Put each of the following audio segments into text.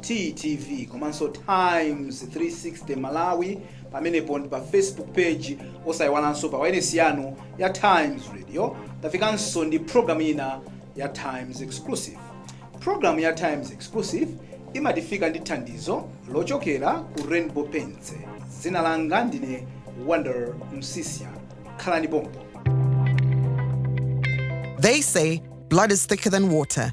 TTV komanso Times 360 Malawi pamenepo ndi pa Facebook page osayiwalanso pa wailesi yanu ya Times Radio tafikanso ndi program ina ya Times Exclusive program ya Times Exclusive imatifika ndi thandizo lochokera ku Rainbow Paints dzina langa ndine Wonder Msisya khalani pompo They say blood is thicker than water,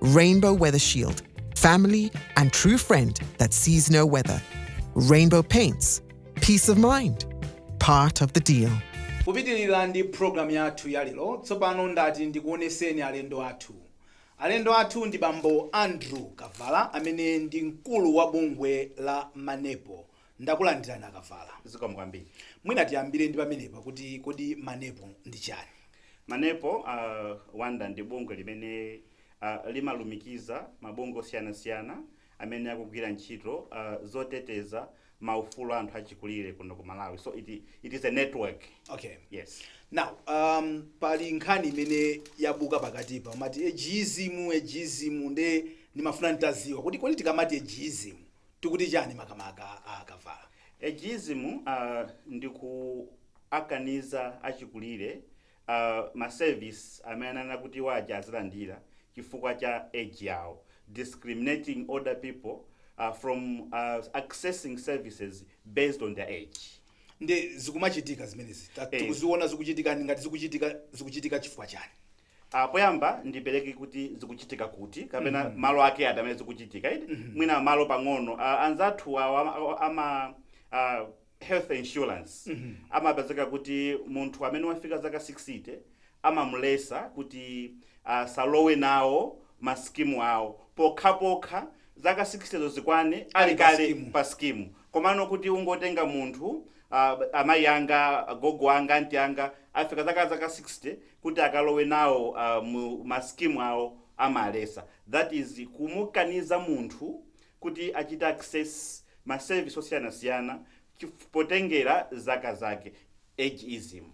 Rainbow Weather Shield, family and true friend that sees no weather. Rainbow Paints, peace of mind, part of the deal. kupitirira ndi programu yathu ya lero tsopano ndati ndikuoneseni alendo athu alendo athu ndi bambo andrew kavala amene ndi mkulu wa bungwe la manepo Ndakulandirani a Kavala. Zikomo kwambiri. Mwina tiyambire ndi pamenepa kuti kodi Manepo ndi chani? Manepo, a Wonder, ndi bungwe limene a limalumikiza mabungwe osiyanasiyana amene akugwira ntchito a zoteteza ma ufulu a anthu achikulire kuno ku Malawi. So it it is a network. Okay. Yes. Now, um, pali nkhani imene yabuka pakatipa mati ageism ageism nde ndimafuna nditadziwa kuti kodi tikamati ageism tikuti chani makamaka a Kavala? Ageism uh, ndi kuwakaniza achikulire uh, ma service amene anakawaja azilandira chifukwa cha age yawo discriminating older people uh, from uh, accessing services based on their age ndi zikumachitika zimenezi Ta- Eh. tikuziona zikuchitika ndi ngati zikuchitika zikuchitika chifukwa chani Ah, poyamba ndipereke kuti zikuchitika kuti kapena mm -hmm. malo ake amene zikuchitika iti mm -hmm. mwina malo pang'ono uh, anzathu awo ama uh, health insurance mm -hmm. amapezeka kuti munthu amene wafika zaka 60 amamuletsa kuti asalowe uh, nawo masikimu awo pokhapokha zaka 60 zo zikwane ali kale pa skimu Komano kuti ungotenga munthu a amayi anga agogo anga anti anga afika zaka zaka 60 kuti akalowe nawo a mu ma scheme awo amaletsa that is kumukaniza munthu kuti achite access ma service osiyanasiyana chif potengera zaka zake. ageism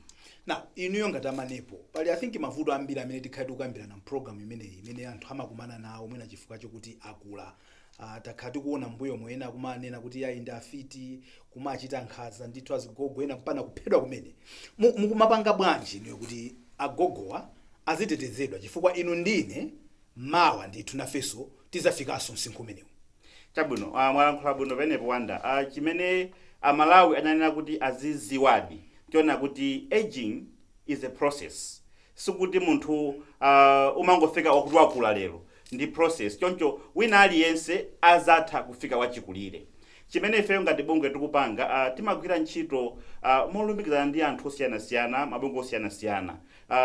now inuyo ngati a Manepo pali i think mavuto ambiri amene tikhale tikukambirana mprogramu imeneyi imene anthu amakumana nawo mwina chifukwa chokuti akula uh, takhala tikuona mbuyomo ena kumawanena kuti yayi ndi afiti kumachita nkhanza ndithu azigogo ena mpaka kuphedwa kumene Mu- mukumapanga bwanji inuyo kuti agogowa azitetezedwa chifukwa inu ndine mawa ndithu nafeso tizafikaso msinkhu umenewu. Chabwino mwalankhula bwino penepo Wanda, chimene a Malawi anayenera kuti aziziwadi chonena nkuti aging is a process sikuti munthu umangofika wakuti wakula lero ndi process choncho wina aliyense azatha kufika wachikulire. Chimene ifeyo ngati bungwe tikupanga timagwira ntchito molumikizana ndi anthu osiyanasiyana, mabungwe osiyanasiyana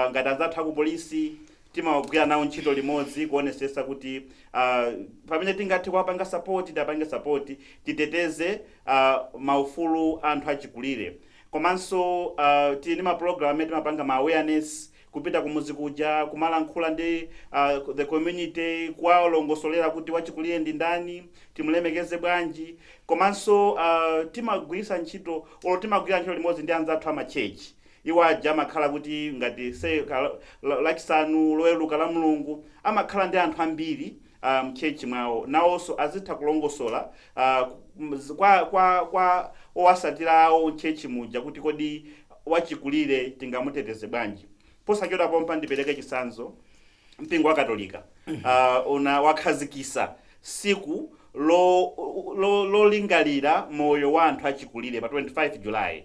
ngati anzathu aku polisi, timagwira nawo ntchito limodzi kuonesesa kuti uh, pamene tingathe kuwapanga sapoti tiapange sapoti titeteze uh, maufulu anthu achikulire komanso uh, tili ndi mapulogalamu amene timapanga ma awareness kupita kumuzi kuja kumalankhula ndi uh, the community kuwalongosolera kuti wachikulire ndi ndani timulemekeze bwanji komanso uh, timagwirisa ntchito olo timagwira ntchito limodzi ndi anzathu amachechi Iwo aja amakhala kuti ngati say ka, la, Lachisanu, Loweruka, Lamlungu, amakhala ndi anthu ambiri uh, mchurch mwawo, nawonso azitha kulongosola uh, ku- kwa, kwa, kwa owasatira awo mchurch muja kuti kodi wachikulire tingamuteteze bwanji. Posachedwa pompa ndipereke chitsanzo mpingo wa katolika uh, una wakhazikisa Tsiku Lolingalira Moyo wa Anthu Achikulire, Pa 25 July,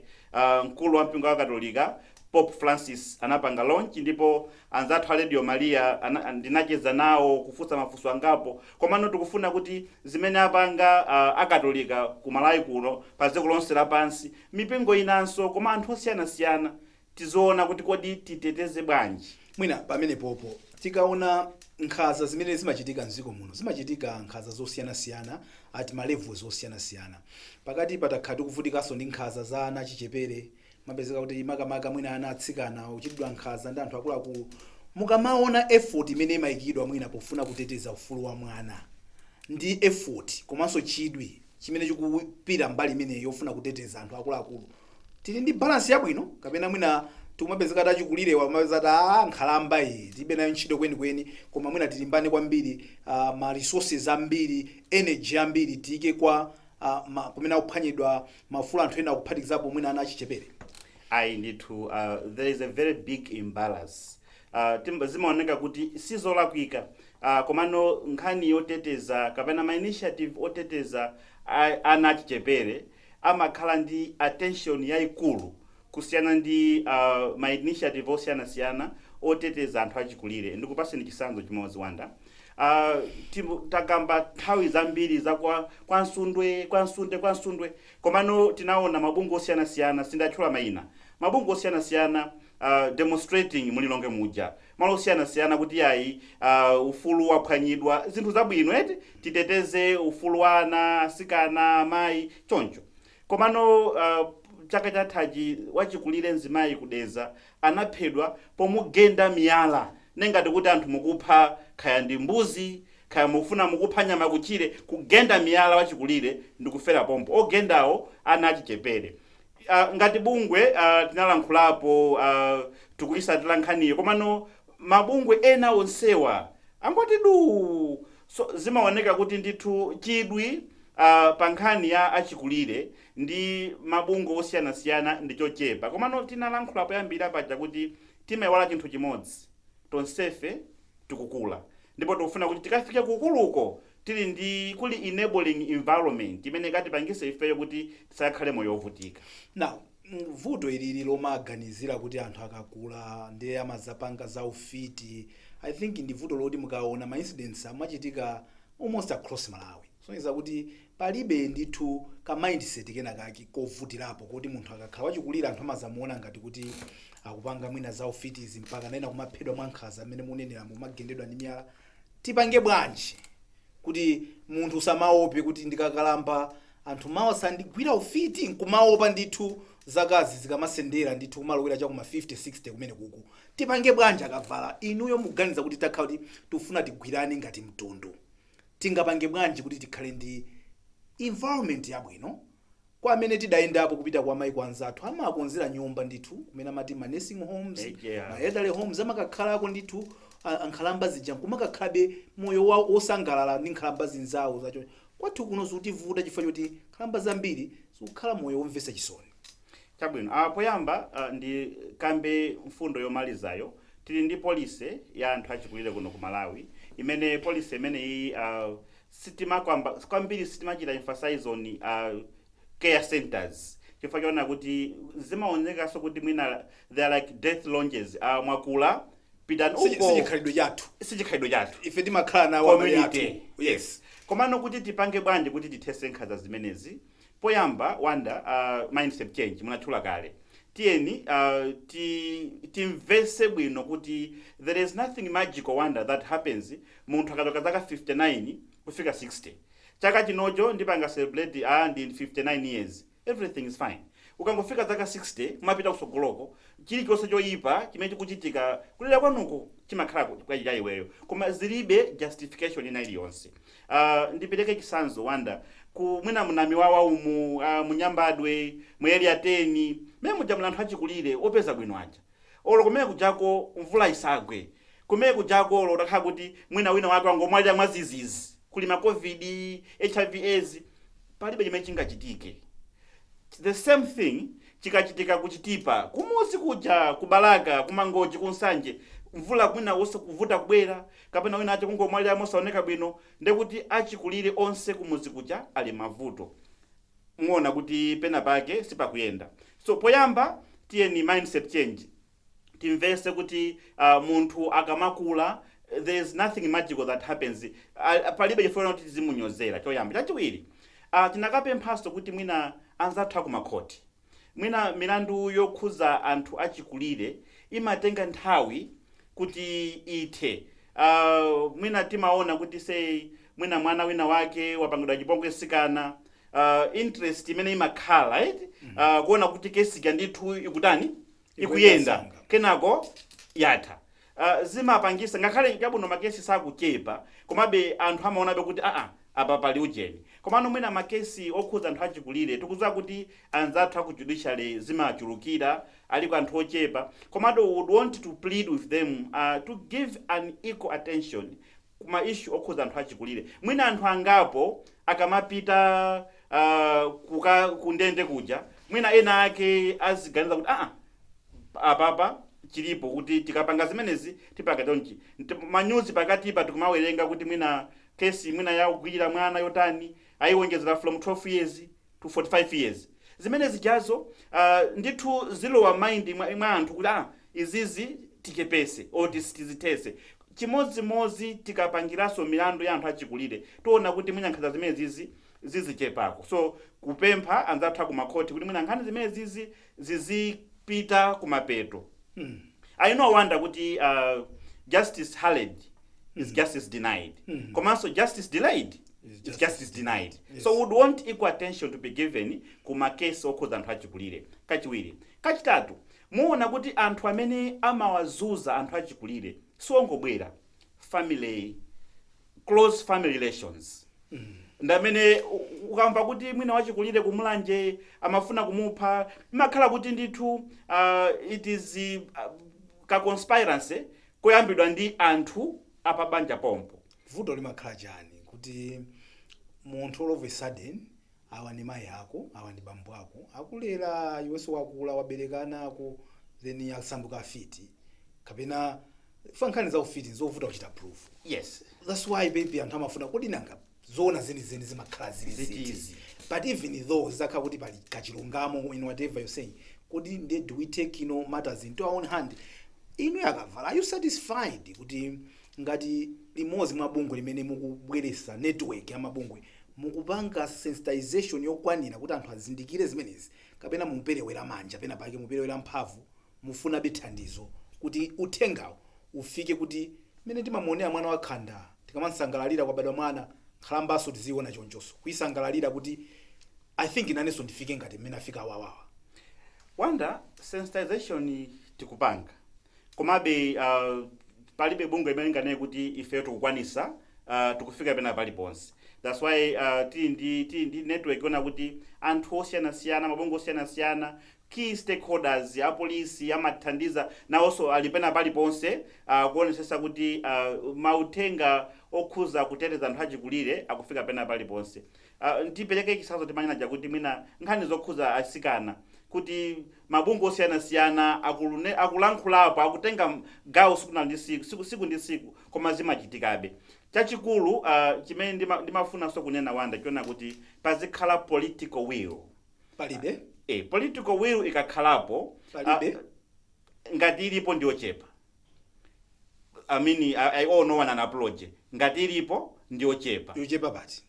mkulu wa mpingo wakatolika, Pope Francis anapanga launch ndipo anzathu a Radio Maria ndinacheza nawo, kufunsa mafunso angapo komano tikufuna kuti zimene apanga akatolika ku Malawi kuno, pa dziko lonse lapansi, mipingo inanso koma anthu osiyanasiyana tiziona kuti kodi titeteze bwanji. Mwina pamenepopo tikaona nkhaza zimene zimachitika mziko muno zimachitika nkhaza zosiyanasiyana at ma levels osiyanasiyana. Pakatipa takhala tikuvutikaso ndi nkhaza za ana achichepere kumapezeka kuti makamaka mwina ana atsikana akuchitidwa nkhaza ndi anthu akuluakulu. Mukamaona effort imene imaikidwa mwina pofuna kuteteza ufulu wa mwana ndi effort komanso chidwi chimene chikupita mbali imeneyi yofuna kuteteza anthu akuluakulu tili ndi balance yabwino kapena mwina tikumapezeka kuti achikulirewa kumapezeka kuti "Ah, nkhalamba iyi tilibe nayo ntchito kwenikweni koma mwina tilimbane kwambiri uh, ma resources ambiri energy ambiri tiyike kwa uh, ma, kumene akuphwanyidwa maufulu anthu ena akuphatikizapo mwina ana achichepere ayi ndithu uh, there is a very big imbalance ah, timba- zimaoneka kuti sizolakwika ah, komano nkhani yoteteza kapena ma initiative oteteza a- ana achichepere amakhala ndi attention yayikulu kusiyana ndi ah, ma initiative osiyanasiyana oteteza anthu achikulire ndikupaseni chisanzo chimodzi Wanda Ah, timu- takamba nthawi zambiri za kwa kwa Msundwe kwa Msundwe kwa Msundwe komano tinaona mabungwe osiyanasiyana sindatchula mayina mabungwe osiyanasiyana uh, demonstrating mu Lilongwe muja malo osiyanasiyana kuti yayi uh, ufulu waphwanyidwa zinthu zabwino eti titeteze ufulu wa ana asikana amayi choncho komano uh, chaka chathachi wachikulire mzimayi ku Dedza anaphedwa pomugenda miyala nengati kuti anthu mukupha kaya ndi mbuzi kaya mufuna mukupha nyama kutchire kugenda miyala wachikulire ndikufera pompo ogendawo ana achichepere Ngati bungwe tinalankhulapo tikuyitsatira nkhaniyo komano mabungwe ena onsewa angoti duu so zimaoneka kuti ndithu chidwi pa nkhani ya achikulire ndi mabungwe osiyanasiyana ndi chochepa komano tinalankhula poyambirira paja kuti timayiwala chinthu chimodzi tonsefe tikukula ndipo tikufuna kuti tikafike ku ukuluko tili ndi kuti enabling environment imene ikatipangise ifeyo kuti tisakhale moyo wovutika. Now vuto ilili lomaganizira kuti anthu akakula ndiye amazapanga za ufiti I think ndi vuto loti mukaona ma incidents amachitika almost across Malawi kusonyeza kuti palibe ndithu ka mindset kena kake kovutirapo koti munthu akakhala wachikulire anthu amazamuona ngati kuti akupanga mwina za ufiti izi mpakana ena kumaphedwa mwankhaza mmene muneneramo kumagendedwa ndi miyala Tipange bwanji kuti munthu usamaope kuti ndikakalamba anthu mawa azandigwira ufiti nkumaopa ndithu zakazi zikamasendera ndithu kumalowera chakuma 50 60 kumene kuku tipange bwanji a Kavala inuyo mukuganiza kuti takhala kuti tikufuna tigwirane ngati mtundu tingapange bwanji kuti tikhale ndi environment yabwino Kwa amene tidayendapo kupita kumaiko anzathu amawakonzera nyumba ndithu kumene amati ma nursing homes, Eya. ma elderly homes amakakhalako ndithu a- ankhalamba zija nkumakakhalabe moyo wa- wosangalala ndi nkhalamba zinzawo zotero kwathu kuno zikutivuta chifukwa choti nkhalamba zambiri zikukhala moyo womvetsa chisoni chabwino ah, poyamba ah, ndikambe mfundo yomalizayo tili ndi policy ya anthu achikulire kuno ku Malawi imene policy imeneyi ah, sitimakamba kwambiri sitimachita emphasize on care centres chifukwa choona kuti zimaonekaso kuti mwina they are like death lounges ah mwakula pitani Sichi- uko sichikhalidwe chathu sichikhalidwe chathu ife timakhala nawo amene athu. community yes komano kuti tipange bwanji kuti tithese nkhanza zimenezi Poyamba Wonder uh, mindset change munatchula kale tiyeni uh, ti, timvese bwino kuti there is nothing magical Wonder that happens munthu akachoka zaka 59 kufika 60 chaka chinocho ndipanga celebrate ah, ndi 59 years everything is fine ukangofika zaka 60 kumapita kusogoloko chilichonse choyipa chimene chikuchitika kudera kwanuko chimakhala kwa iweyo koma zilibe justification ina iliyonse Uh, ndipeleke chitsanzo kunja kwa mwina muNamiwawa umu uh, muNyambadwe mu Area 10 mene muja muli anthu achikulire opeza bwino aja olo kumene kujako mvula isagwe kumene kujako olo utakhala kuti mwina wina wake wangomwalira mwadzidzidzi kuli ma COVID HIV AIDS palibe chimene chingachitike the same thing chikachitika kuChitipa kumudzi kuja kuBalaka kuMangochi kuNsanje mvula kwinaku ikuvuta kubwera kapena wina wache kungomwalira mosaoneka bwino ndekuti achikulire onse kumudzi kuja ali mmavuto muona kuti pena pake sipakuyenda so poyamba tiyeni mindset change timvese kuti uh, munthu akamakula there is nothing magical that happens uh, palibe chifukwa choti tizimunyozera choyamba chachiwiri uh, tikanapemphanso kuti mwina anzathu akumakhoti Mwina milandu yokhudza anthu achikulire imatenga nthawi kuti ithe. Mwina timaona kuti say mwina mwana wina wake wapangidwa chipongwe mtsikana, interest imene imakhala eti, kuona kuti case ija ndithu ikutani, ikuyenda kenako yatha uh, zimapangitsa ngakhale chabwino makesi sakuchepa komabe anthu amaonabe kuti aa apa pali ujeni komano mwina makesi okhudza anthu achikulire tikudziwa kuti anzathu aku judiciary zimachulukira aliko anthu ochepa komabe we would want to plead with them uh, to give an equal attention ku ma issue okhudza anthu achikulire mwina anthu angapo akamapita uh, kuka kundende kuja mwina ena ake aziganiza kuti aa apapa chilipo kuti tikapanga zimenezi tipanga chonchi Nti- manyuzi pakatipa tikumawerenga kuti mwina kesi mwina yakugwirira mwana yotani ayiwonjezera from 12 years to 45 years zimene zijazo uh, ndithu zilowa mind mwa, mwa anthu kuti ah, izizi tichepetse or tizithetse chimodzimodzi tikapangiranso milandu ya anthu achikulire tiona kuti mwina nkhanza zimenezizi zizichepako so kupempha anzathu akumakhoti kuti mwina nkhani zimenezizi zizipita kumapeto I know Wonder kuti uh, justice hurried is justice denied komanso justice delayed is justice denied so we would want equal attention to be given ku makesi okhudza anthu achikulire kachiwiri kachitatu muona kuti anthu amene amawazunza anthu achikulire siwongobwera family close family relations ndamene u- ukamva kuti mwina wachikulire kuMulanje amafuna kumupha imakhala kuti ndithu uh, it is uh, ka conspiracy koyambidwa ndi anthu apabanja pompo vuto limakhala chani kuti munthu all of a sudden Awa ndi mayi ako, awa ndi bambo ako akulera iwenso wakula wabereka ana ako then asanduka afiti kapena chifukwa nkhani za ufiti nzovuta kuchita prove Yes. that's why maybe anthu amafuna kodi nanga zoona zenizeni zimakhala zili Ziti ziti izi. but even though zitakhala kuti pali kachilungamo in whatever you're saying kodi nde do we take you know, matters into our own hand inu yakavala are you satisfied kuti ngati limodzi mwa bungwe limene mukubweresa network ya mabungwe mukupanga sensitization yokwanira kuti anthu azindikire zimenezi kapena muperewera manja pena pake muperewera mphamvu mufunabe thandizo kuti uthengawu ufike kuti mmene timamuonera mwana wa khanda tikamamsangalalira kwabadwa mwana nkhalambaso tiziiona chonchoso kuisangalalira kuti i think inenso ndifike ngati mmene afika awawa Wanda, sensitization tikupanga. Komabe, a, palibe bungwe limene linganene kuti ifeyo tikukwanisa, a, tikufika pena paliponse. That's why, a, tili ndi, tili ndi network yonena kuti anthu osiyanasiyana, mabungwe osiyanasiyana, key stakeholders, apolisi amatithandiza, nawonso ali pena paliponse, a, kuonesesa kuti, a, mauthenga okhuza kuteteza anthu achikulire akufika pena paliponse. A, ndipereke chitsanzo timanena chakuti mwina nkhani zokhuza asikana kuti mabungwe osiyanasiyana akulne, akulankhulapo, akutenga gawo siku na ndi siku, siku, siku ndi siku koma zimachitikabe. Chachikulu a, chimene ndima, ndimafunanso kunena Wanda chonena kuti pazikhala political will. A, Palibe. e, political will ikakhalapo a, Palibe. ngati ilipo ndiyochepa. I mean, I, I, oh, no apology ngati ilipo ndiyochepa yochepa basi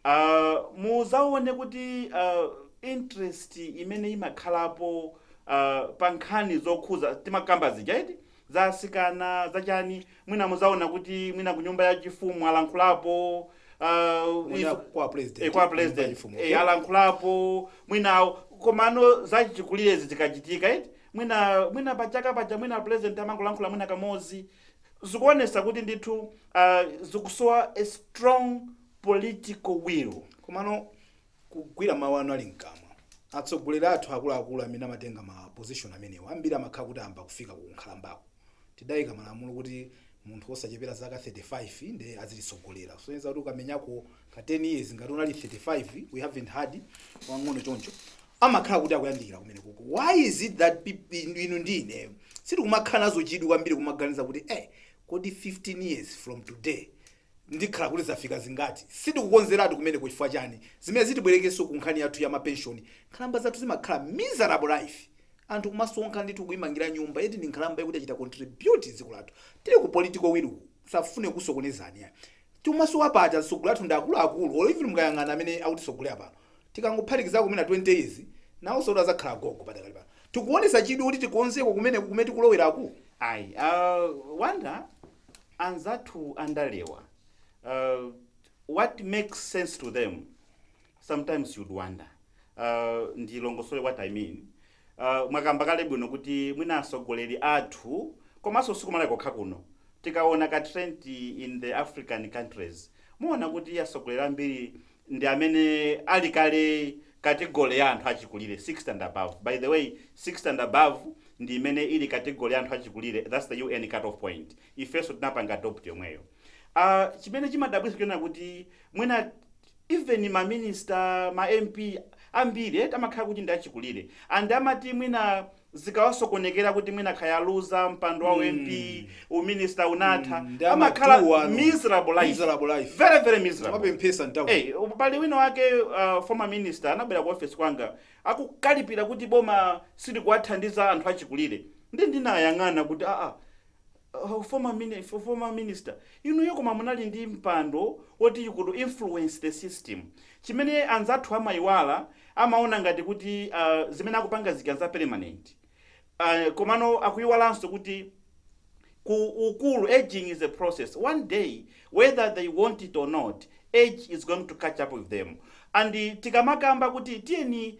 uh, muzaone kuti uh, interest imene imakhalapo uh, pa nkhani zokhuza timakamba zija eti za asikana zachani mwina muzaona kuti mwina ku nyumba ya chifumu alankhulapo uh, Mwina izo- kwa president, eh, kwa nyumba ya president chifumu, eh, okay. alankhulapo mwinawo komano zachikulirezi zikachitika eti Mwina, mwina pa chaka paja mwina president amangolankhula mwina kamozi. Zikuonesa kuti ndithu zikusowa a strong political will. Komano kugwira mawu anu ali mkamwa. Atsogoleri athu akuluakulu amene amatenga ma position amenewo ambiri amakhala kuti ayamba kufika ku nkhalambako. tidaika malamulo kuti munthu osachepera zaka 35 ndiye azititsogolera kusonyeza kuti ukamenyako ka 10 years ngati unali 35 we haven't had wang'ono choncho amakhala kuti akuyandikira kumene kuko why is it that peop- inu ndi ineyo sitikumakhala nazo chidwi kwambiri kumaganiza kuti eh kodi 15 years from today ndikhala kuti zafika zingati? Sitikukonzeratu kumeneko chifukwa chani? Zimenezi tibwerekenso ku nkhani yathu ya ma pension, nkhalamba zathu zimakhala miserable life. Anthu kumasonkha ndithu kuimangira nyumba yet ndi nkhalamba yakuti yachita contribute dziko lathu. Tili ku political will ku, tisafune kukusokonezani ya. Timasowa paja atsogoleri athu ndi akulu akulu or even mukayang'ana amene akutitsogolera pano. Tikangophatikizako mwina 20 years, nawonsotu adzakhala agogo padakali pano. Tikuonetsa chidwi kuti tikonzeko kumeneko kumene tikuloweraku? Ayi, a Wonder. anzathu andalewa uh, what makes sense to them sometimes you'd wonder uh, ndilongosole what i mean uh, mwakamba kale bwino kuti mwina atsogoleri athu komanso si ku Malawi kokha kuno tikaona ka trend in the african countries muona kuti atsogoleri ambiri ndi amene ali kale category ya anthu achikulire 60 and above. By the way, 60 and above ndi imene ili category ya anthu achikulire, that's the UN cut off point. Ifenso tinapanga adopt yomweyo. Ah, chimene chimadabwitsa n'chonena kuti mwina even ma minister, ma MP ambiri eh, amakhala kuti ndi achikulire and amati mwina zikawasokonekera kuti mwina kaya aluza mpando wa u MP, Mm. u minister unatha, Mm, amakhala amaduwa anu. miserable life. Miserable life. Very very miserable. Amapemphesa nthawi. Hey, pali wina wake uh, former minister anabwera ku office kwanga akukalipira kuti boma silikuwathandiza anthu achikulire. Ndiye ndinayang'ana kuti aa Oh, former mini, for former minister, inuyo koma munali ndi mpando woti you could influence the system. Chimene anzathu amayiwala amaona ngati kuti uh, zimene akupanga zija za permanent. Uh, komano akuyiwalanso kuti ukulu aging is a process one day whether they want it or not age is going to catch up with them and tikamakamba kuti tiyeni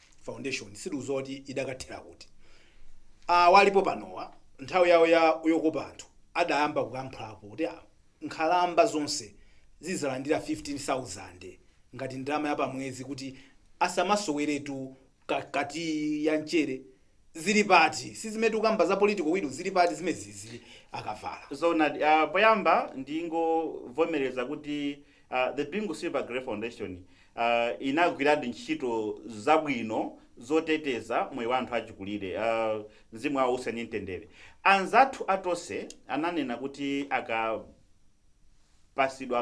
foundation sitikudziwa kuti idakathera kuti awa alipo panowa nthawi yawo ya yokopa anthu adayamba kukamphulapo kuti ah, nkhalamba zonse zizalandira 15000 ngati ndalama ya pamwezi kuti asamasoweretu ka- kati ya mchere zili pati sizimene tikukamba za political will zili pati zimenezi a Kavala zoonadi uh, poyamba ndingovomereza kuti uh, the bingu silver grey foundation a, inagwiradi ntchito zabwino zoteteza moyo wa anthu achikulire. a, Mzimu wawo uwuse mu mtendere. Anzathu a Tonse ananena kuti akapasidwa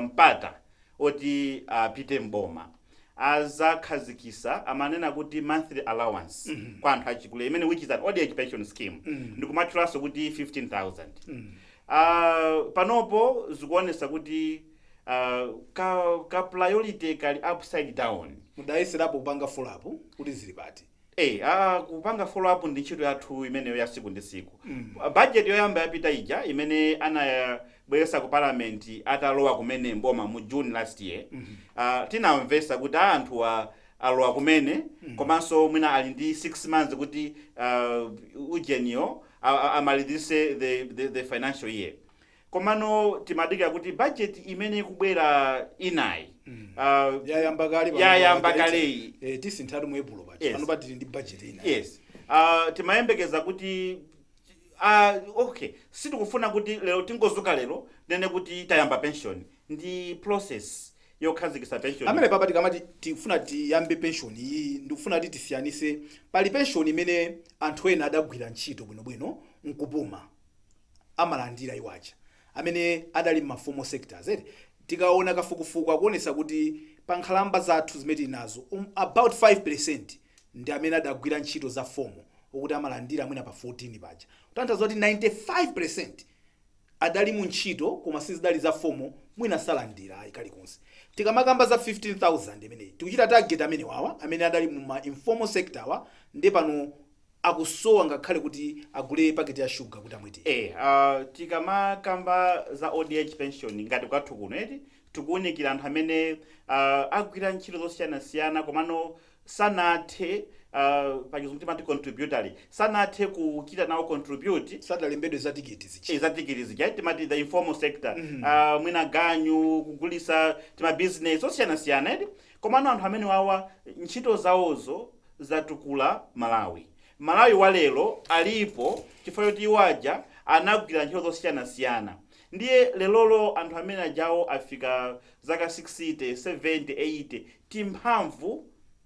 mpata oti apite m'boma azakhazikisa amanena kuti monthly allowance kwa anthu achikulire imene which is an old age pension scheme ndikumatchulanso kuti 15000 Ah, panopo zikuonesa kuti Ah, ka ka priority kali upside down mudayeserapo kupanga follow up kuti zili pati Eh, ah, kupanga follow up ndi ntchito yathu imeneyo ya siku ndi siku Mm. Ah, budget yoyamba yapita ija imene anayabweresa ku parliament atalowa kumene mboma mu june last year Ah, tinamvesa kuti a anthu a- alowa kumene komanso mwina ali ndi 6 months kuti ah, ujeniyo a- a- amalizitse the, the, the financial year Komano timadikira kuti budget imene ikubwera inayi uh, yayamba kale pano yayamba paja, kaleyi eh, tinasinthatu mu epulo paja Yes. pano pa tili ndi budget inayi yes uh, timayembekeza kuti uh, okay sitikufuna kuti lero tingozuka lero nene kuti tayamba pension ndi process yokhazikisa pension apapa tikamati tifuna tiyambe pension iyi ndikufuna kuti tisiyanise pali pension imene anthu ena adagwira ntchito bwinobwino nkupuma amalandira iwo aja amene adali mma formal sectors eti tikaona kafukufuku akuonesa kuti pa nkhalamba zathu zimene tili nazozi um, about 5% ndi amene adagwira ntchito za formal okuti amalandira mwina pa 14 paja kutanthauza kuti 95% adali mu ntchito koma sizidali za formal mwina salandira ayi kalikonse tikamakamba za 15000 imeneyi tikuchita target amenewawa amene adali mu ma informal sector wa ndi pano akusowa ngakhale kuti agule paketi ya sugar kuti amwe tiyi. Eya uh, tikamakamba za old age pension ngati kwathu kuno eti tikuunikira anthu amene uh, agwira ntchito zosiyanasiyana komano sanathe uh, pachizungu timati contributory sanathe kuchita nawo contribute sadalembedwe za tiketi zija Eh, za tiketi zija timati the informal sector uh, mwina ganyu kugulisa timabizinesi osiyanasiyana eti komano anthu amenewawa ntchito zawozo zatukula Malawi. Malawi wa lero alipo chifukwa choti iwo aja anagwira ntchito zosiyanasiyana ndiye lerolo anthu amenewajawo afika zaka 60, 70, 80 timphamvu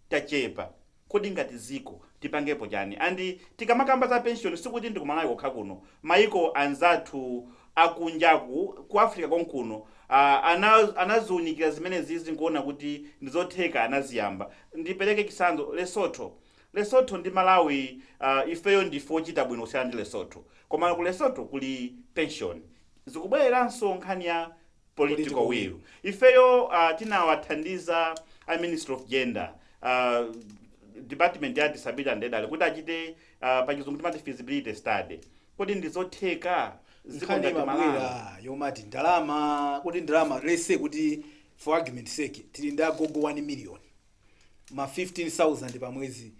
tachepa. Kodi ngati dziko tipangepo chani? And tikamakamba za pension sikuti ndi ku Malawi kokha kuno, maiko anzathu akunjaku ku Africa konkuno a, ana, anaziunikira zimenezizi nkuona kuti ndizotheka anaziyamba. Ndipereke chitsanzo Lesotho. Lesotho ndi Malawi a, ifeyo ndife ochita bwino kusiyana ndi Lesotho. Komano ku Lesotho kuli pension. Zikubwereranso nkhani ya political will ifeyo uh, tinawathandiza a ministry of gender uh, department ya disability and elderly kuti achite uh, pachizungu timati feasibility study kodi ndizotheka dziko ngati Malawi? nkhani imabwera yomati ndalama kodi ndalama let's say kuti for argument sake tili ndi agogo 1 million ma 15000 pa mwezi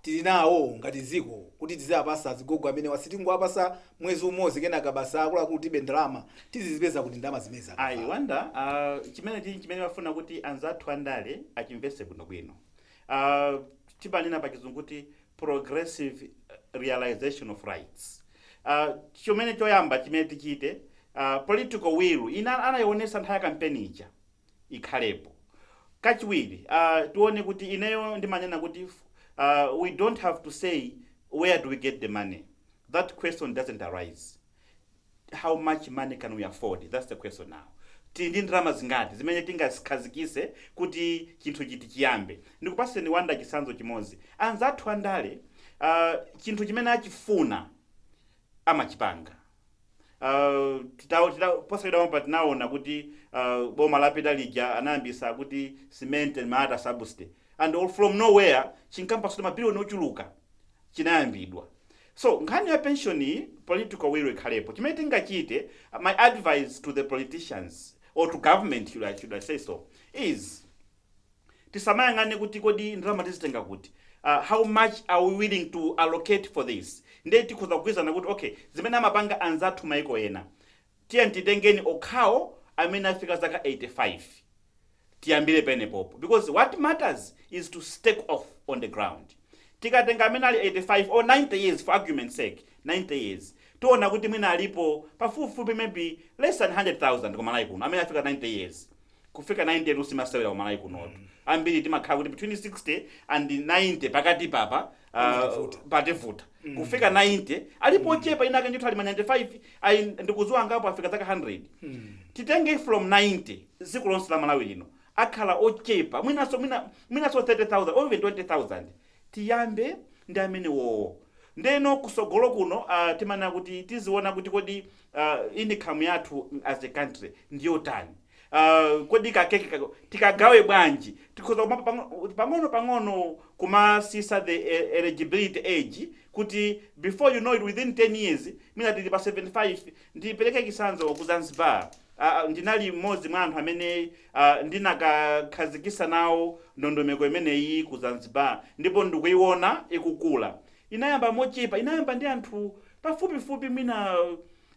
tili nayo ngati dziko kuti tiziapasa azigogo amenewa sitingowapasa mwezi umozi kenaka basi akuluakulu tilibe ndalama tizizipeza kuti ndalama zimenezi I akavalo wanda uh, chimene chili chimene ndimafuna kuti anzathu andale achimvese bwinobwino uh, timanena pa chizungu kuti progressive realization of rights uh, chimene choyamba chimene tichite uh, political will ija anayionesa nthawi ya kampeni ija ikhalepo kachiwiri uh, tione kuti ineyo ndimanena kuti uh, we don't have to say where do we get the money that question doesn't arise how much money can we afford that's the question now tili ndi ndalama zingati zimene tingazikhazikise kuti chinthuchitu chiyambe ndikupaseni wanda chisanzo chimodzi anzathu andale uh, chinthu chimene achifuna amachipanga Uh, titawo- titawo- posachedwa pompa tinaona kuti uh, boma lapita lija anayambisa kuti cement and malata subsidy and all from nowhere chinkafunika mabiliyoni ochuluka chinayambidwa so nkhani ya pension iyi political will ikhalepo chimene tingachite uh, my advice to the politicians or to government should I, should I say so is tisamayang'ane kuti kodi ndalama tizitenga kuti, uh, how much are we willing to allocate for this. Ndiye tikhoza kugwirizana kuti okay, zimene amapanga anzathu maiko ena, tiyeni titenge okhawo amene afika zaka 85 tiyambire penepopo because what matters is to take off on the ground tikatenga amene ali 85 or 90 years for argument sake 90 years tiona kuti mwina alipo pafupifupi maybe less than 100000 kumalawi kuno amene afika 90 years kufika 90 tu simasewera kumalawi kunotu ambiri timakhala kuti between 60 and 90 pakati papa Pamativuta. uh, pativuta kufika 90 alipo ochepa enaake ndithu ali ma 95 ayi ndikuziwa angapo afika zaka 100 titenge from 90 dziko lonse la malawi lino akhala ochepa mwinaso mwina- mwinaso 30000 or even 20000 tiyambe ndi amenewowo ndeno kusogolo kuno uh, timanena kuti tiziona kuti kodi uh, income yathu as a country ndiyotani Ah, kodi kakeke kaka tikagawe bwanji tikhoza kumapa pang'o- pang'ono pang'ono kumasisa the eh, eligibility age kuti before you know it within 10 years mwina tili pa 75 ndipereke chisanzo ku zanzibar Ah, ah, ndinali mmodzi mwa anthu amene ah, ndinakakhazikisa nawo ndondomeko imeneyi ku zanzibar ndipo ndikuiona ikukula inayamba mochepa inayamba ndi anthu pafupifupi mwina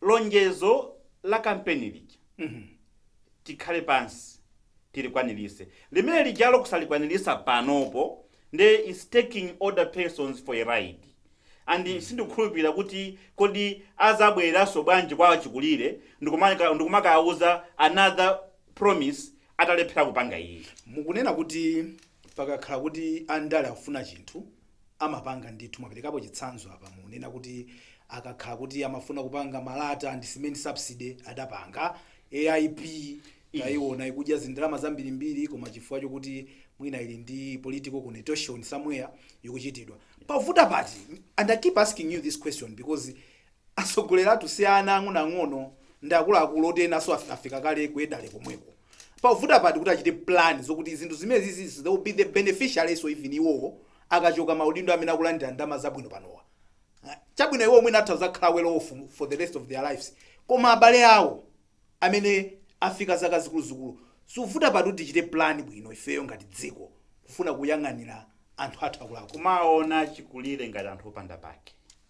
lonjezo la kampeni lija tikhale pansi tilikwanilise limene lijalo kusalikwanilisa panopo nde is taking older persons for a ride and sindikukhulupirira kuti kodi azabwereranso bwanji kwa achikulire ndikumaka- ndikumakawauza another promise atalephera kupanga iyi mukunena kuti pakakhala kuti andale akufuna chinthu amapanga ndithu mwaperekapo chitsanzo apa mukunena kuti akakhala kuti amafuna kupanga malata ndi cement subsidy adapanga aip taiona ikudya zindalama zambirimbiri koma chifukwa chokuti mwina ili ndi political connotation somewhere ikuchitidwa pavuta pati and i keep asking you this question because atsogoleri athu si ana ang'onoang'ono ndi akuluakulu oti enanso af- afika kale kuyedale komweko pavuta pati kuti achite plan zokuti zinthu zimenezizi they will be the beneficiaries so even iwowo akachoka maudindo amene akulandira ndalama zabwino panowa Ah, chabwino iwo mwina atha kuzakhala well off for the rest of their lives koma abale awo amene afika zaka zikuluzikulu siuvuta pati kuti tichite plan bwino ifeyo ngati dziko kufuna kuyang'anira anthu athu akulaku kumaona chikulire ngati anthu opanda pake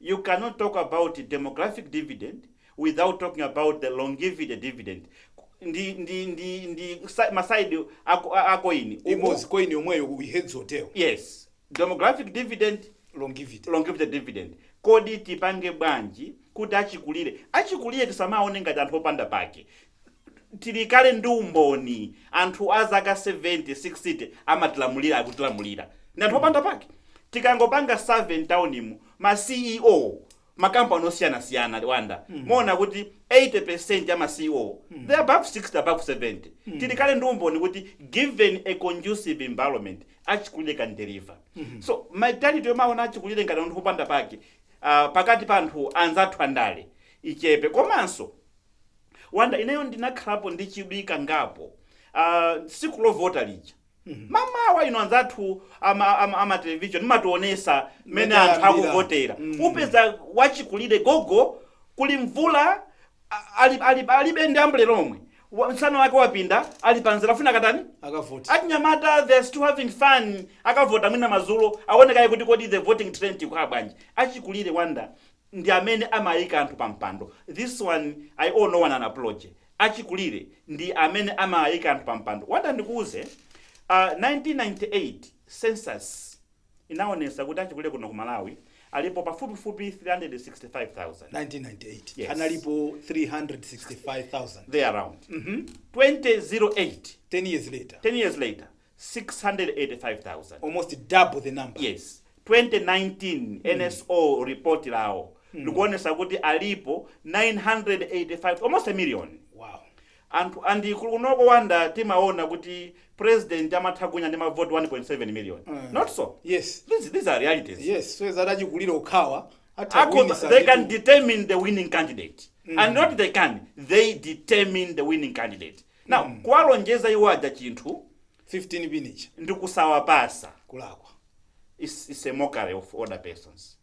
You cannot talk about demographic dividend without talking about the longevity dividend Ku- ndi, ndi, ndi, ndi sa- ma side a co- a- a coin uku imodzi coin yomweyo heads or tail yes demographic dividend longevity longevity dividend kodi tipange bwanji kuti achikulire achikulire tisamawaone ngati anthu opanda pake tili kale ndi umboni anthu a zaka 70 60 amatilamulira akutilamulira ndi anthu opanda pake tikangopanga survey mtaunimu ma ceo makampani osiyanasiyana wanda muona kuti 80% ya ma ceo they are above 60 above 70 tili kale ndi umboni kuti given a conducive environment achikulire can deliver so mentality yomaona achikulire ngati anthu opanda pake ah, pakati pa anthu anzathu andale ichepe komanso wanda ineyo ndinakhalapo ndi chidwi kangapo ah, tsiku lovota lija mamawa inu anzathu ama, ama, ama television mumationesa mmene Mmene anthu ayambira. akuvotera Mm. upeza wachikulire gogo kuli mvula a- ali, ali, alibe ndi ambulera yomwe Wa- msana wake wapinda ali panzira afuna kukatani akavote achinyamata they're still having fun akavota mwina mazulo aone kaye kuti kodi the voting trend ikhala bwanji achikulire wanda ndi amene amaika anthu pa mpando this one i owe no one an apology achikulire ndi amene amaika anthu pa mpando wanda ndikuuze uh, 1998 census inaonesa kuti achikulire kuno ku malawi alipo pafupifupi 365000 1998 Yes. analipo 365000 there around mm -hmm. 2008 10 years later 10 years later 685,000 almost double the number yes 2019 nso report lawo likuonesa kuti alipo 985 almost a million wow and kunoko wanda timaona kuti president amatha kuwina ndi mavoti 1.7 million not so yes these, these are realities yes so zoti achikulire okhawa atha Ako, kuwinisa they can ndithu. determine the winning candidate and not they can they determine the winning candidate Now, mm. kuwalonjeza iwo aja chinthu 15 pin ija ndi kusawapasa ndi kulakwa it's, it's a mockery of older persons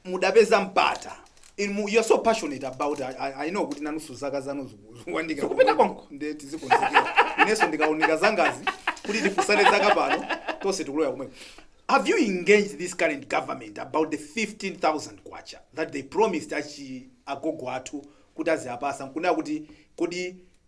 mudapeza mpata you're so passionate about I, I, I know kuti nanusu zaka zanu zikuwandikira kupita konko nde tizikonzekera ineso ndikaona zangazi kuti tifusane zaka pano tonse tikuloya kumwe have you engaged this current government about the 15000 kwacha that they promised achi agogo athu kuti aziapasa nkunena kuti kodi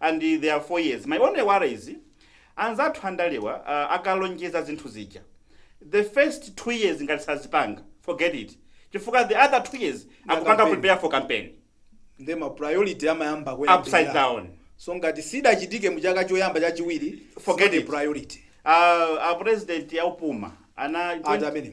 and there are four years my only worry is anzathu andalewa uh, akalonjeza zinthu zija the first two years ngati sazipanga forget it chifukwa the other two years akupanga campaign. prepare for campaign nde ma priority amayamba kuyenda upside down so ngati sidachitike mu chaka choyamba chachiwiri Forget it's not a it. priority uh, a president yaupuma ana Ati amene?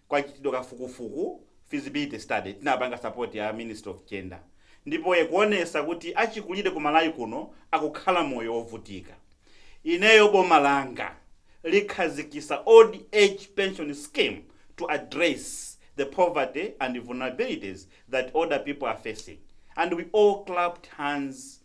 kwachitidwa kafukufuku, feasibility study, tinapanga support ya ministry of gender ndipo yakuonesa kuti achikulire ku Malawi kuno akukhala moyo ovutika. Ineyo boma langa likhazikisa old age pension scheme to address the poverty and vulnerabilities that older people are facing and we all clapped hands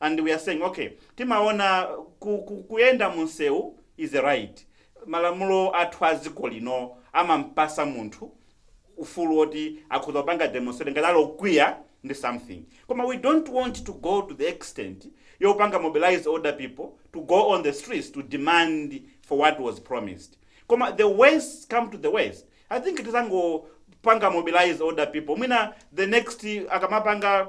and we are saying ok timaona ku, ku, kuyenda munsewu is a right malamulo athu a dziko lino amampasa munthu ufulu woti akhoza panga demonstrate ngati ali okwiya ndi something koma we don't want to go to the extent yopanga mobilize older people to go on the streets to demand for what was promised koma the worst come to the worst i think tizangopanga mobilize older people mwina the next akamapanga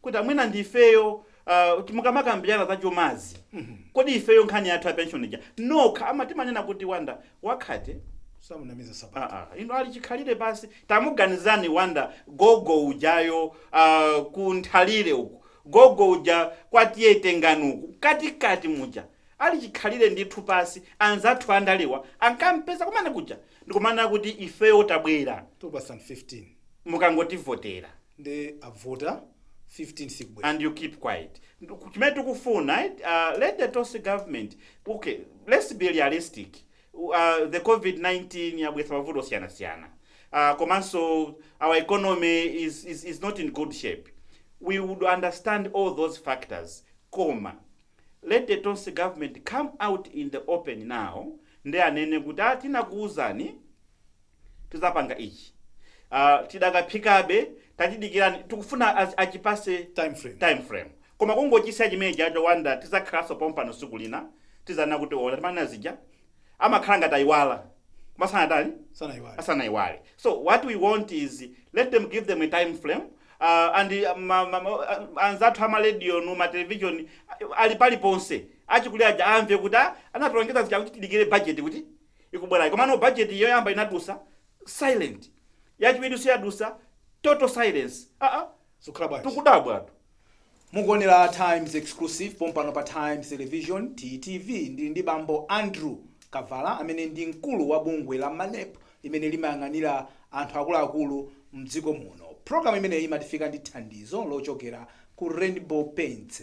kuti mwina ndi ifeyo uh, mukamakambirana za chumazi mm -hmm. kodi ifeyo nkhani yathu ya pension ija no koma timanena kuti Wanda wakhate samunamiza nsapato ah, ah, ino ali chikhalire pasi tamuganizani Wanda gogo ujayo uh, ku Nthalire uku gogo uja kwa T/A Tengani uku katikati muja ali chikhalire ndithu pasi anzathu andalewa ankampeza kumene kuja ndikumanena kuti ifeyo tabwera 2015 mukangotivotera nde abvota 15 sikubwera. and you keep quiet chimene tikufuna eh, uh, let the tonse government okay let's be realistic uh, the covid-19 yabwesa mavuto osiyanasiyana uh, komanso our economy is, is, is not in good shape we would understand all those factors koma let the tonse government come out in the open now nde anene kuti atinakuwuzani tizapanga ichi uh, tidakaphikabe tatidikirani tikufuna az- achipase Time frame. time frame koma kungochisiya chimenechijacho Wanda tizakhalanso pompano siku lina tizanena kuti ola timanena zija amakhala ngati ayiwala asanatani Sanaiwale. asanayiwale so what we want is let them give them a time frame uh, and uh, ma, ma, ma, uh, anzathu amarediyo ndi matelevision uh, ali paliponse achikulire aja amve kuti ah, anatilonjeza zija kuti tidikire budget kuti ikubwerayi komano budget yoyamba inadusa silent yachiwirinso yadusa total silence aa zikukhala bwanji tukudabwatu mukuonera times exclusive pompano pa times television ttv ndili ndi bambo andrew kavala amene ndi mkulu wa bungwe la manepo limene limayang'anira anthu akuluakulu mdziko muno programu imeneyi imatifika ndi thandizo lochokera ku rainbow paints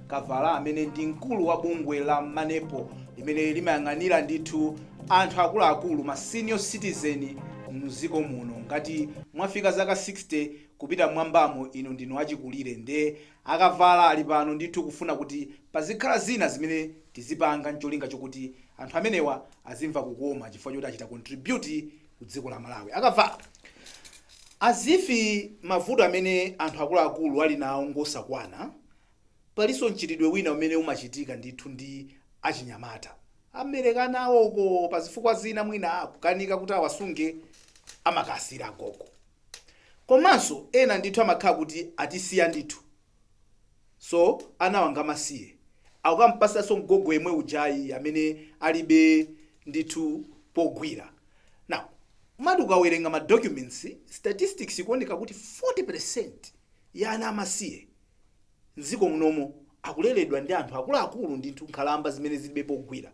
Kavala amene ndi mkulu wa bungwe la Manepo limene limayang'anira ndithu anthu akuluakulu, ma senior citizen, mdziko muno. Ngati mwafika zaka 60 kupita mmwambamo inu ndinu achikulire nde a Kavala ali pano ndithu kufuna kuti pazikhala zina zimene tizipanga ncholinga chokuti anthu amenewa azimva kukoma chifukwa choti achita contribute ku dziko la Malawi. A Kavala, as if mavuto amene anthu akuluakulu ali nawo ngosakwana, Palinso mchitidwe wina umene umachitika ndithu ndi achinyamata. Amabereka ana awo uko pa zifukwa zina mwina kukanika kuti awasunge amakasiyira agogo. Komanso ena ndithu amakhala kuti atisiya ndithu so anawa ngamasiye akukampatsanso mgogo yemwe ujayi amene alibe ndithu pogwira. Now umati ukawerenga ma documents, statistics ikuoneka kuti 40% ya ana amasiye mdziko munomo akuleledwa ndi anthu akuluakulu ndithu nkhalamba zimene zilibe pogwira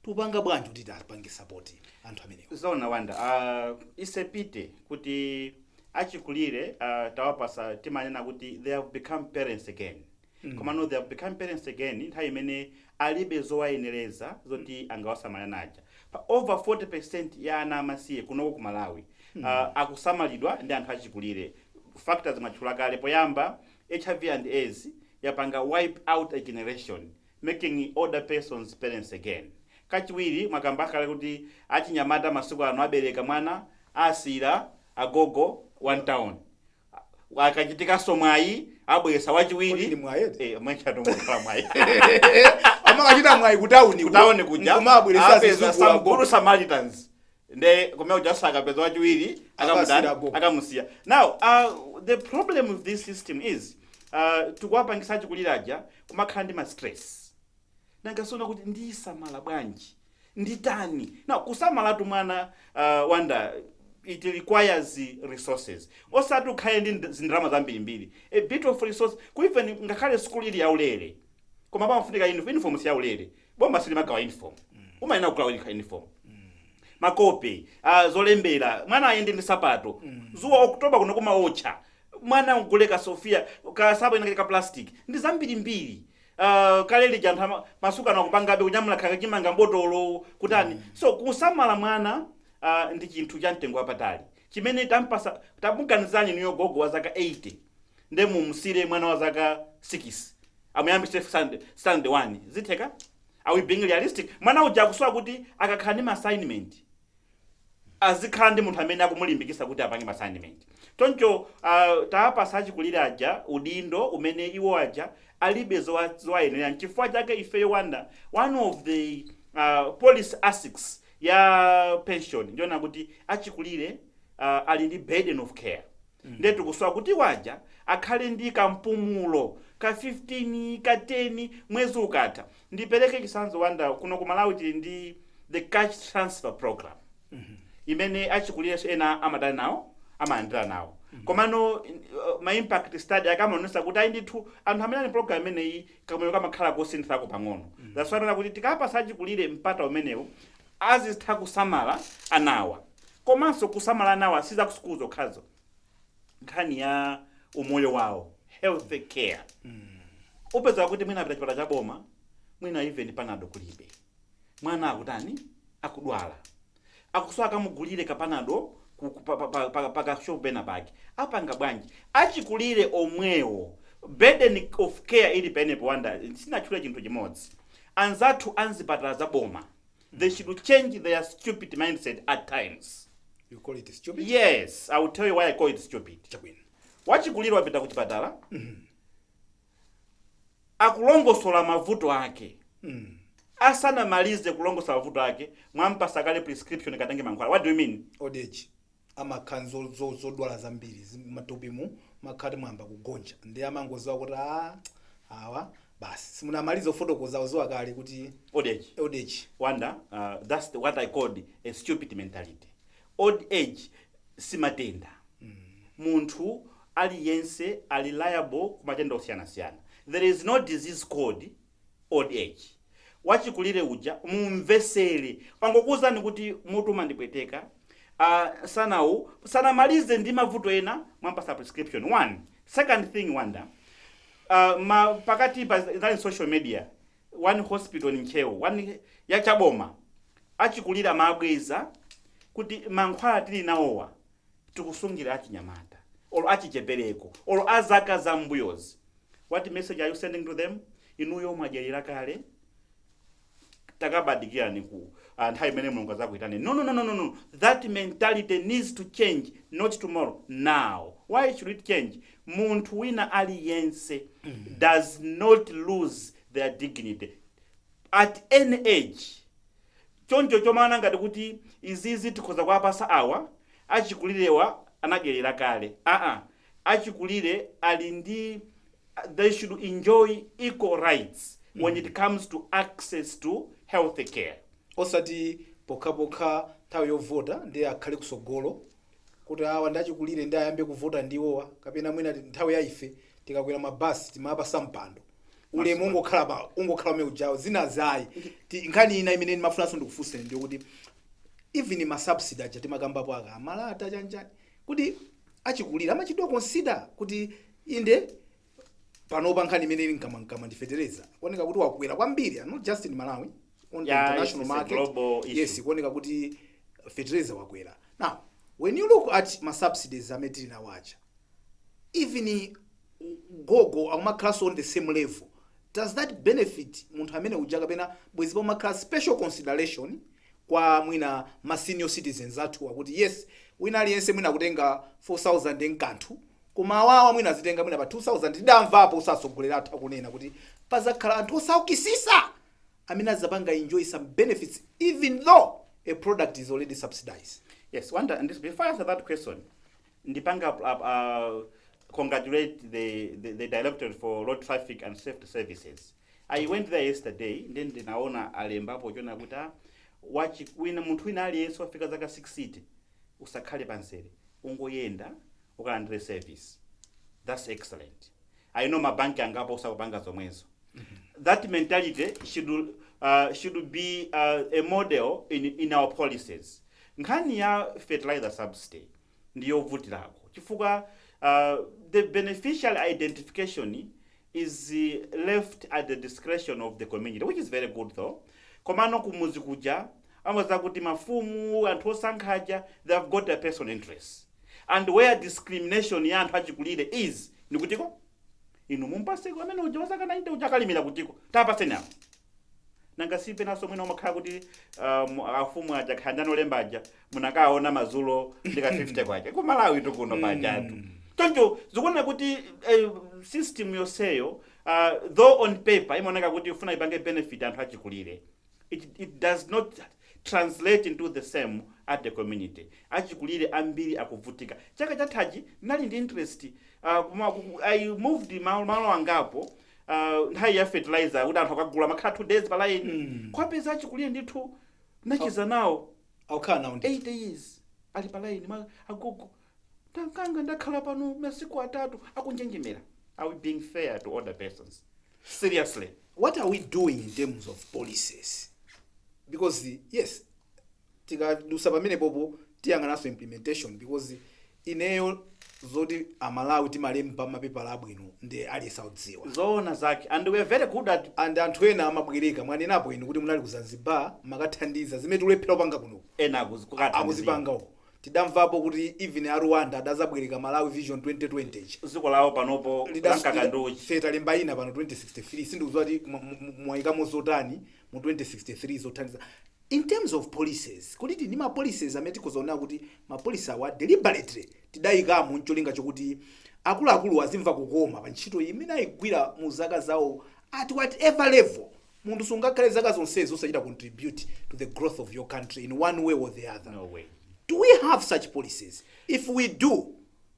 tupanga bwanji kuti tipange support anthu amenewa zona wanda uh, isepite kuti achikulire uh, tawapatsa timanena kuti they have become parents again mm. komano they have become parents again nthawi imene alibe zowayenereza zoti angawasamale ana aja. Pa over 40% ya ana amasiye kunoko ku Malawi uh, akusamalidwa ndi anthu achikulire. Factors mwatchula kale poyamba, hiv and aids yapanga wipe out a generation making older persons parents again. Kachiwiri mwakamba kale kuti achinyamata masiku ano abereka mwana asiyira agogo one town. akachitikanso mwayi abweretsa Kodi ndi wachiwiri mwayi eti? Eh, mmenetu mukhala mwayi amakachita mwayi kutauni kutaone kuja kumabweretsa apeza zizukulu some good samaritans nde kumene kujaso akapeza wachiwiri Akasiyira akamutani go. akamusiya now uh, the problem with this system is uh, tikuwapangisa achikuliraja kumakhala ndi ma stress nanga sono kuti ndisamala bwanji nditani now kusamalatu mwana uh, wanda it requires resources osati ukhale ndi nd- zindrama zambirimbiri a bit of resource even ngakhale school ili yaulere koma pamafunika uniform uniform si yaulere boma silimagawa uniform umayenera kugula uni- uniform makope uh, zolembera mwana ayende ndi sapato dzuwa oktoba kuno kumaotcha mwana ugule ka sofia ka sapato kena kake ka plastic ndi zambirimbiri Uh, kale lija anthu ama- masuka anakupangabe kunyamula khaka chimanga mbotolo kutani so kusamala mwana uh, ndi chinthu cha mtengo wapatali chimene tampasa tamuganizani niyo gogo wa zaka 80 nde mumsire mwana wa zaka 6 amuyambise stand stand 1 zitheka are we being realistic mwana uja akusowa kuti akakhala ndi ma assignment azikhala ndi munthu amene akumulimbikisa kuti apange ma assignment choncho uh, tawapasa achikulire aja udindo umene iwo aja alibe zowa- zowayenera nchifukwa chake ifeyo wanda one of the uh, policy aspects ya pension ndiona kuti achikulire uh, ali ndi burden of care nde tikusowa kuti awa aja akhale ndi kampumulo ka 15 ka 10 mwezi ukatha ndipeleke chisanzo wanda kuno ku malawi tili ndi the cash transfer program imene achikulirenso ena amatenga nawo amalandira nawo komano uh, ma impact study ake amaonesa kuti ayi ndithu anthu amene ali program imeneyi kamoyo kamakhala kosinthako pang'ono that's why kuti tikawapasa achikulire mpata umenewo azitha kusamala anawa komanso kusamala anawa si za ku sukulu zokhazo nkhani ya umoyo wawo health care upeza kuti mwina apita chipatala cha boma mwina even panado kulibe mwana akutani akudwala akusowa akamugulire kapanado ku- ku- pa- pa- pa- pa- pakashopu pena pake apanga bwanji achikulire omwewo burden of care ili penepo wanda sinatchule chinthu chimodzi anzathu anzipatala za boma they should change their stupid mindset at times You call it stupid? yes i will tell you why i call it stupid Chabwino. wachikulire wapita kuchipatala akulongosola mavuto ake asanamalize kulongosola mavuto ake mwampasa kale prescription katenge mankhwala what do you mean Old age. amakha nzo- zodwala zambiri zi- matupimu makha ti mwayamba kugonja ndi amangoziwa kuti a awa basi simunamaliza ofotokozawo waziwa kale kuti old age old age wanda uh, that's the, what i called a stupid mentality old age simatenda munthu aliyense ali liable ku matenda osiyanasiyana there is no disease called old age. Wachikulire uja mumvesere wangokuuzani kuti mutu umandipweteka ah, sanawu sanamalize ndi mavuto ena mwampasa prescription one second thing wanda uh, ma pakati pa zali social media one hospital in ntcheu one yachaboma achikulire amabweza kuti mankhwala tili nawowa tikusungira achinyamata or achichepereko or azaka za mbuyozi what message are you sending to them inuyo mwadyerera kale takabadikirani ku ah, nthawi imene mulungu azakuitane no, no, no, no, no, no. that mentality needs to change not tomorrow now why should it change munthu wina aliyense does not lose their dignity at any age choncho chomaona ngati kuti izizi tikhoza kuwapasa awa achikulirewa anadyelera kale aa achikulire ali ndi they should enjoy equal rights when it comes to access to health care. osati pokhapokha nthawi yovota ndiye akhale kusogolo kuti awa ndi achikulire ndiye ayambe kuvota ndi iwowa kapena mwina ti- nthawi ya ife tikakwera ma bus timapasa mpando ulemu ungokhala pa ungokhala umene ujawo zina zayi Ti- nkhani ina imene ndimafunanso ndikufunseni ndiyo kuti even ma subsidy aja timakambapo aka malata chanichani kuti achikulire amachitidwa consider kuti inde panopa nkhani imene ili mkamwamkamwa ndi fetereza kuoneka kuti wakwera kwambiri and not just in malawi on the Yeah, international it's- it's a market global issue. yes kuoneka kuti fetereza wakwera now when you look at ma subsidies amene tili nawo aja even gogo akumakhalanso on the same level does that benefit munthu amene uja kapena bwezi pamakhala special consideration kwa mwina ma senior citizens athu akuti yes wina aliyense mwina akutenga 4000 nkanthu Koma awawa mwina azitenga mwina pa 2000 tidamvapo utsogoleri athu akunena kuti pazakhala anthu osaukisisa amene azapanga enjoy some benefits even though a product is already subsidized. Yes, Wonder and this, before I answer that question, Ndipanga uh, uh, congratulate the, the, the Directorate for Road Traffic and Safety Services. I went there yesterday nde ndinaona alembapo zonena kuti a wachi wina munthu wina aliyense wafika zaka 60 usakhale pamzere ungoyenda ukalandire service that's excellent i know mabanki angapo nso akupanga zomwezo that mentality should, uh, should be uh, a model in, in our policies nkhani ya fertilizer subsidy ndiyovutirako chifukwa uh, the beneficiary identification is left at the discretion of the community which is very good though komano kumuzi kuja umapeza kuti mafumu anthu osankha aja they have got their personal interests and where discrimination ya anthu achikulire is ndi kuti ko inu mumpaseko amene uja wazaka 90 uja akalimira kutiko tapaseni awo nanga si penanso mwina umakhala kuti um, afumu aja akhala ndi anolemba aja munakaona mazulo ndi ka 50 kwacha ku malawi tukuno pajatu choncho zikuoneka kuti eh, system yonseyo uh, though on paper imaoneka kuti ifuna ipange benefit anthu achikulire it, it does not translate into the same at the community achikulire ambiri akuvutika chaka chathachi ndinali ndi interest uh, kuma, ku- i moved malo, malo angapo uh, nthawi ya fertilizer kuti anthu akagula amakhala 2 days pa line Mm. kuwapeza achikulire ndithu nditacheza nawo akukhala nawo ndi 80 years ali pa line agogo mwananga ndakhala pano masiku atatu akunjenjemera are we being fair to older persons seriously what are we doing in terms of policies because the, yes tikadusa pamenepopo tiyang'ananso implementation because Ineyo zoti a Malawi timalemba ma pepala abwino nde aliyense akudziwa. Zoona zake and we are very good at. And anthu ena amabwereka, mwanenapo inu kuti munali ku Zanzibar mumakathandiza, zimene tikulephera kupanga kuno uku Ena akuzi- a- kukathandizira. akuzipanga uko. Tidamvapo kuti even a Rwanda adazabwereka Malawi Vision 2020 ija. Dziko lawo panopo lamkaka ndi uchi. Ife talemba ina pano 2063 sindikudziwa kuti mwa- mwa- mwayikamo zotani mu 2063 zothandiza. In terms of policies, kodi tili ndi ma policies amene tikhoza kunena kuti ma policy awa deliberately tidayikamo ncholinga chokuti akuluakuluwa azimva kukoma pa ntchito imene ayigwira mu zaka zawo at whatever level? Munthu sungakhale zaka zonsezo osachita contribute to the growth of your country in one way or the other. Do we have such policies? If we do,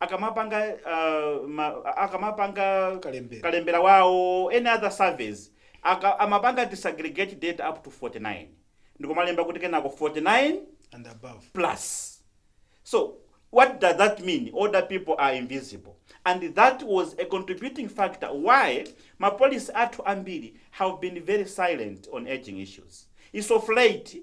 akamapanga ma akamapanga kalembera kalembera wawo or any other surveys aka amapanga disaggregate data up to 49 ndikumalemba kuti kenako 49 and above plus so what does that mean older people are invisible and that was a contributing factor why ma policy athu ambiri have been very silent on aging issues it's of late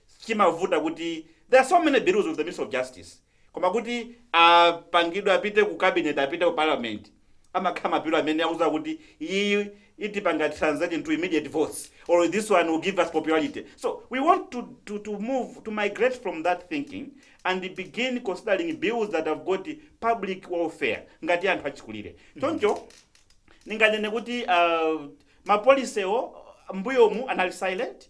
Chimavuta kuti there are so many bills with the ministry of justice koma kuti apangidwe apite ku cabinet apite ku parliament amakhala ma bill amene akudza kuti iyiyi itipanga translate into immediate votes or this one will give us popularity so we want to, to, to move to migrate from that thinking and begin considering bills that have got public welfare ngati anthu achikulire choncho ninganene kuti uh, ma policy-wo mbuyomu anali silent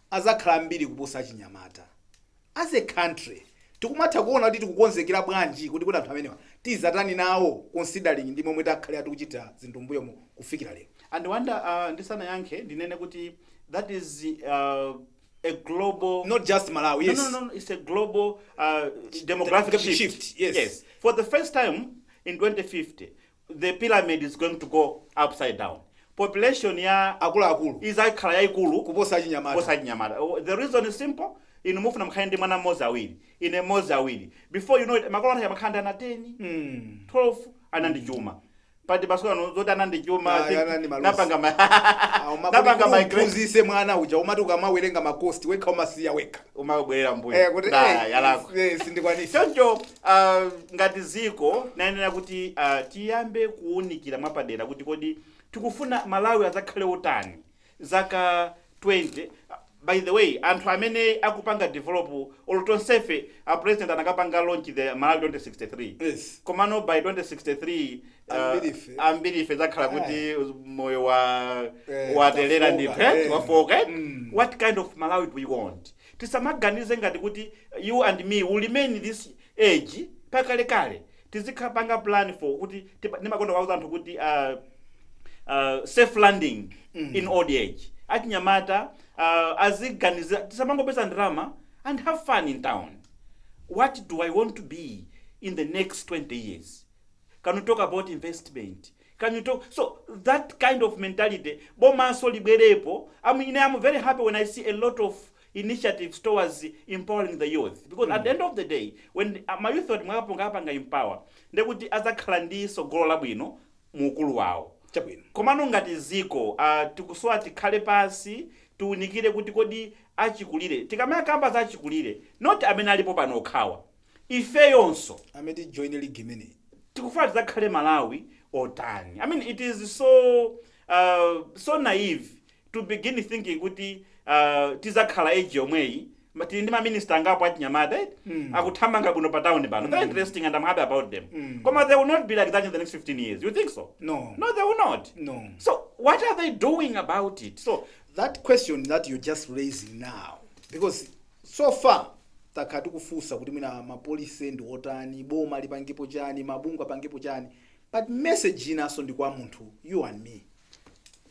adzakhala ambiri kuposa achinyamata. As a country tikumatha kuona kuti tikukonzekera bwanji kuti kodi anthu amenewa tizatani nawo considering ndi momwe takhalira tikuchita zinthu mmbuyomu kufikira lero. And Wonder uh, ndisanayankhe ndinene kuti that is uh, a global Not just Malawi, yes. no, no, no, no, it's a global uh, demographic Demographic shift. shift, yes. For the first time in 2050, the pyramid is going to go upside down population ya akuluakulu izakhala yaikulu kuposa achinyamata kuposa achinyamata oh, the reason is simple inu mukufuna mukhale ndi mwana mmodzi awiri ine mmodzi awiri before you know it makolo athu amakhala ndi ana 10 mm. 12 ana ndi chuma but masiku ano zoti ana ndi chuma Ah, I think ana ndi maluzi. napanga ma- napanga migrate umamphunzitsa mwana uja umati ukamawerenga makosti wekha umasiya wekha umabwerera mbuyo Eh, kuti, Nah, eh, yalakwa. eh, sindikwanisa choncho Uh, ngati dziko tiyenera kuti uh, tiyambe kuwunikira mwapadera kuti kodi tikufuna malawi adzakhale otani zaka 20 by the way anthu amene akupanga develop olo tonsefe a president anakapanga launch the malawi 2063 Yes. komano by 2063 uh, Ambirife. ambirife tidzakhala kuti moyo wa Eh, waterera ndi tafoka, pet eh. wafoka eh? Mm. what kind of malawi do we want Tisamaganize ngati kuti you and me will remain this age mpaka kale kale. Tizikapanga plan for kuti tipa, ndimakonda kuwauza anthu kuti uh, uh, safe landing mm. in old age. Achinyamata uh, aziganiza tisamangopeza ndalama and have fun in town. What do I want to be in the next 20 years? Can we talk about investment? can you talk so that kind of mentality bomanso libwerepo I'm ine am very happy when i see a lot of initiatives towards empowering the youth because at the end of the day when ah, ma youth oti mwakapanga apanga empower ndekuti adzakhala ndi tsogolo labwino mu ukulu wawo chabwino komano ngati ziko uh, tikusowa tikhale pansi tiunikire kuti kodi achikulire tikamakamba za achikulire not amene alipo pano okhawa ifeyonso amene tijoine ligi imeneyi tikufuna tidzakhale malawi otani i mean it is so uh, so naive to begin thinking kuti uh, tizakhala age yomweyi ma- tili ndi maminista angapo achinyamata eh? Mm. akuthamanga bwino pa town pano they're interesting and i'm happy about them Mm. koma they will not be like that in the next 15 years you think so no no they will not no so what are they doing about it so that question that you're just raising now because So far takhala tikufunsa kuti mwina ma policy ndi otani, boma lipangepo chani, mabungwe apangepo chani but message yinaso ndi kwa munthu you and me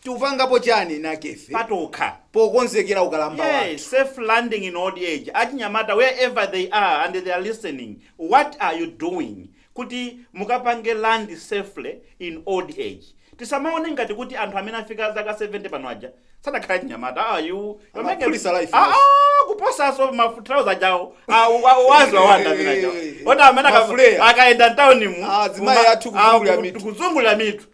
tikupangapo chani enife patokha pokonzekera ukalamba wathu. Yes, safe landing in old age. Achinyamata, wherever they are and they are listening, what are you doing? kuti mukapange land safely in old age tisamaone ngati kuti anthu amene afika zaka 70 pano aja sadakhale achinyamata ah, you, you're making- Amaphulitsa life, Ah, yes. ah, kuposaso mathalauza awo ngati a Wonder amene ajawo oti amene aka- Mafuleya. akayenda mtawunimu Azimayi athu kuzungulira mitu. kuzungulira mitu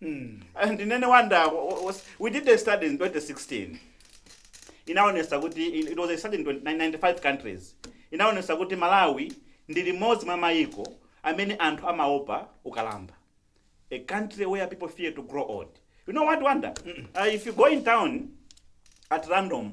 Mm. Ndinene Wonder was, we did a study in 2016. Inaonesa kuti in- it was a study in 20 95 countries. Inaonesa kuti Malawi ndi limodzi mwa mayiko amene anthu amaopa ukalamba. A country where people fear to grow old. You know what Wonder? Uh, if you go in town at random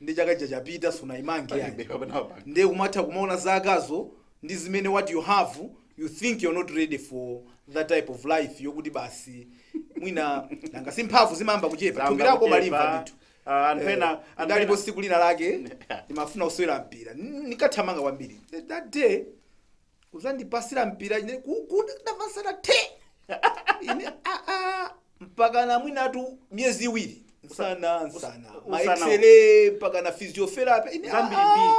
nde chaka chija chapita sunaimange ayi Palibe kapena wapanga. nde umatha kumaona zakazo ndi zimene what you have you think you're not ready for that type of life yokuti basi mwina nanga si mphamvu zimayamba kuchepa Zimayamba thupi lako kuchepa. umalimva ndithu Ah, anthu Eh, ena- anthu ndilipo ena- siku lina lake ndimafuna kusewera mpira N- nikathamanga kwambiri Th- that day uzandipasira mpira ine kukuti ndavasana te ine aa mpaka na mwinatu miyezi iwiri nsana nsana usa- ma X-ray mpaka na physiotherapy ine zambiri aa. mbiri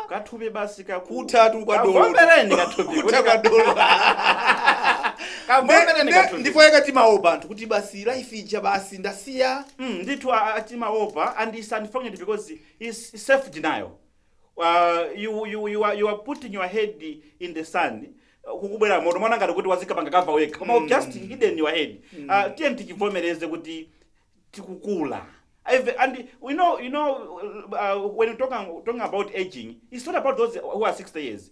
kathupi basi kaku- kutatu kwa dolo Kavomereni kathupi kuta kwa dolo Kavomereni kathupi. ndipo yakati mawo banthu kuti basi life ija basi ndasiya Mm, ndithu a- a- timaopa anthu and it's unfortunate because it's self denial you, you, you, are, you are putting your head in the sand kukubwera moto mwana ngati kuti wazikapanga kava wekha koma mm. just hidden your head mm. uh, tiye tichivomereze kuti tikukula and you know you know uh, when you talking, talking about aging it's not about those who are 60 years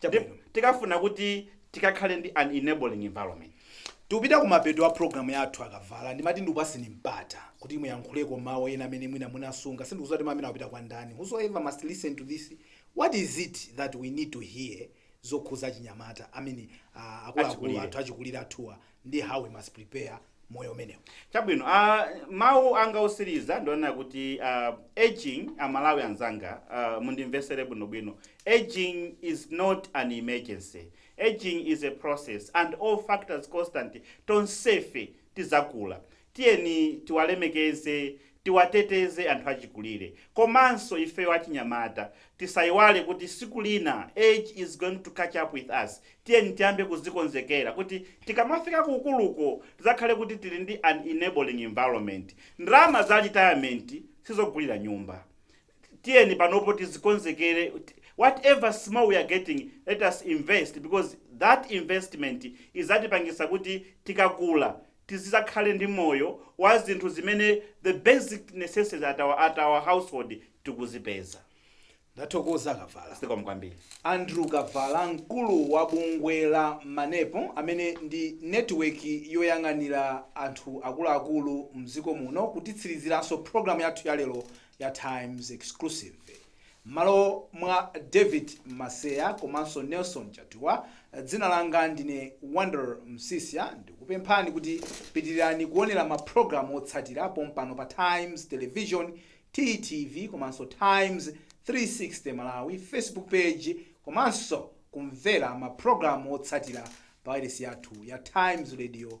Chabwino. Ndipo tikafuna kuti tikakhale ndi an enabling environment. Tikupita kumapeto a program yathu akavala ndimati ndikupatseni mpata kuti muyankhuleko mawu ena amene mwina munasunga sindikuziwa kuti mawu amene akupita kwa ndani whosoever must listen to this what is it that we need to hear zokhuza achinyamata I mean ah, akuluakulu Achikulire. athu achikulire athuwa ndiye how we must prepare moyo umenewu chabwino uh, mawu anga osiriza ndionena kuti uh, aging amalawi anzanga uh, mundimvesere bwinobwino aging is not an emergency aging is a process and all factors constant tonsefe tizakula Tiyeni tiwalemekeze, tiwateteze anthu achikulire komanso ifeyo achinyamata tisaiwale kuti siku lina age is going to catch up with us. Tiyeni tiyambe kuzikonzekera kuti tikamafika ku ukuluko tidzakhale kuti tili ndi an enabling environment. Ndalama za retirement sizogulira nyumba. Tiyeni panopo tizikonzekere whatever small we are getting let us invest because that investment idzatipangitsa kuti tikakula tizizakhale ndi moyo wa zinthu zimene the basic necessities at our, at our household tikuzipeza ndathokoza kavala zikomo kwambiri andrew kavala mkulu wa bungwe la manepo amene ndi netiweki yoyang'anira anthu akuluakulu mdziko muno kutitsiriziranso pulogalamu yathu yalero ya times exclusive M'malo mwa David Maseya komanso Nelson Chatuwa, dzina langa ndine Wonder Msiska ndikupemphani kuti pitirirani kuonera ma program otsatira pompano pa Times Television, TTV, komanso Times 360 Malawi Facebook page komanso kumvera ma program otsatira pa wailesi yathu ya Times Radio